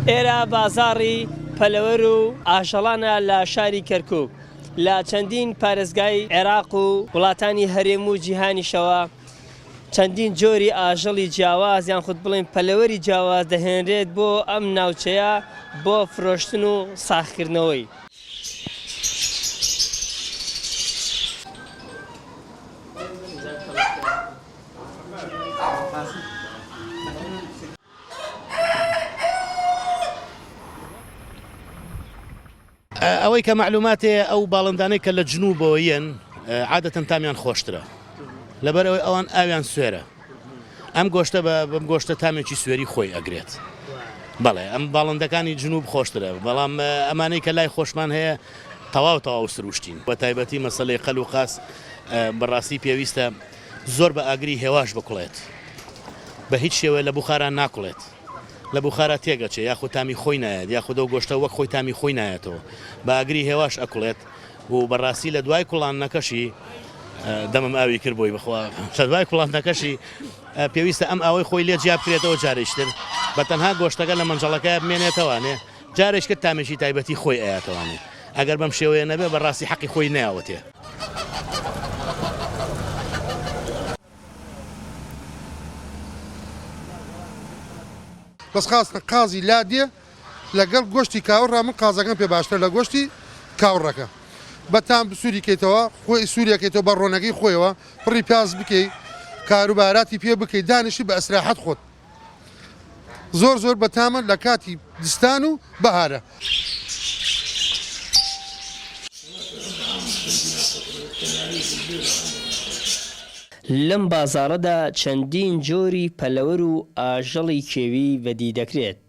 ئێرە بازاڕی پەلەوەر و ئاژەڵانە لە شاری کەرکوک لە چەندین پارێزگای عێراق و وڵاتانی هەرێم و جیهانیشەوە چەندین جۆری ئاژەڵی جیاواز یان خود بڵین پەلەوەری جیاواز دەهێنرێت بۆ ئەم ناوچەیە بۆ فرۆشتن و ساخکردنەوەی. ئەوەی کە معلوماتێ ئەو باڵندانەی کە لە جنوبەوە یەن عادەتەن تامیان خۆشترە لەبەر ئەوەی ئەوان ئاویان سوێرە ئەم گۆشتە بە بەم گۆشتە تامێکی سوێری خۆی ئەگرێت بەڵێ ئەم باڵندەکانی جنوب خۆشترە بەڵام ئەمانەی کە لای خۆشمان هەیە تەواو تەواو سروشتین بە تایبەتی مەسلەی قەل و قاس بەڕاستی پێویستە زۆر بە ئاگری هێواش بکڵێت بە هیچ شێوە لە بخاران ناکڵێت لە بخارە تێگەچێ یاخود تامی خۆی نایەت یاخودەو گۆشتە وەک خۆی تامی خۆی نایەتەوە باگری هێواش ئەکڵێت و بەڕاستی لە دوای کوڵاندنەکەشی دەمم ئاوی کرد بۆی بخوا لە دوای کوڵاندنەکەشی پێویستە ئەم ئاوەی خۆی لێ جیا بکرێتەوە جارێکتر بە تەنها گۆشتەکە لە مەنجەڵەکە بمێنێتەوانێ جارێک کرد تامێکی تایبەتی خۆی ئەیاتەوانێ ئەگەر بەم شێوەیە نەبێ بە ڕاستی حەقی خۆی ناوەتێ. بەس خاستە قازی لادێ لەگەڵ گۆشتی کاوە ڕا من قازەکەم پێ باشترە لە گۆشتی کاو ڕەکە بە تام سووری کەیتەوە خۆی سووریەکەیتەوە بە ڕۆنەکەی خۆیەوە پڕی پیاز بکەی کاروباراتی پێ بکەیت دانیشی بە ئەسراحەت خۆت زۆر زۆر بە تامە لە کاتی دستان و بەهارە. لەم بازاڕەدا چەندین جۆری پەلەوەر و ئاژەڵی کێوی بەدی دەکرێت.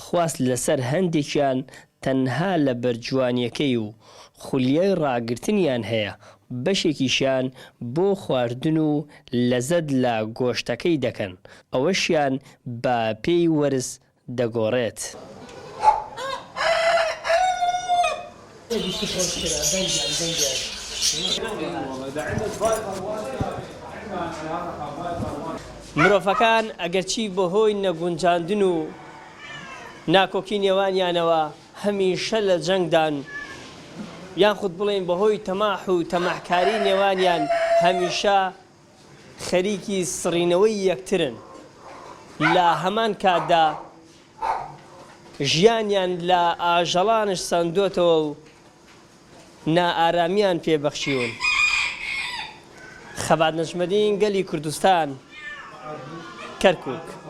خواست لەسەر هەندێکیان تەنها لەبەر جوانیەکەی و خولیای ڕاگرتنیان هەیە، بەشێکیشیان بۆ خواردن و لەزەت لە گۆشتەکەی دەکەن، ئەوەشیان بە پێی وەرز دەگۆڕێت. مرۆڤەکان ئەگەرچی بەهۆی نەگونجاندن و ناکۆکی نێوانیانەوە هەمیشە لە جەنگدان، یاخود بڵێین بەهۆی تەماح و تەماحکاری نێوانیان هەمیشە، خەریکی سڕینەوەی یەکترن، لە هەمان کاتدا ژیانیان لە ئاژەڵانش سەندۆتەوە و نائارامیان پێ بەخشیون. خەبات نەجمەدین گەلی کوردستان، کەرکوک.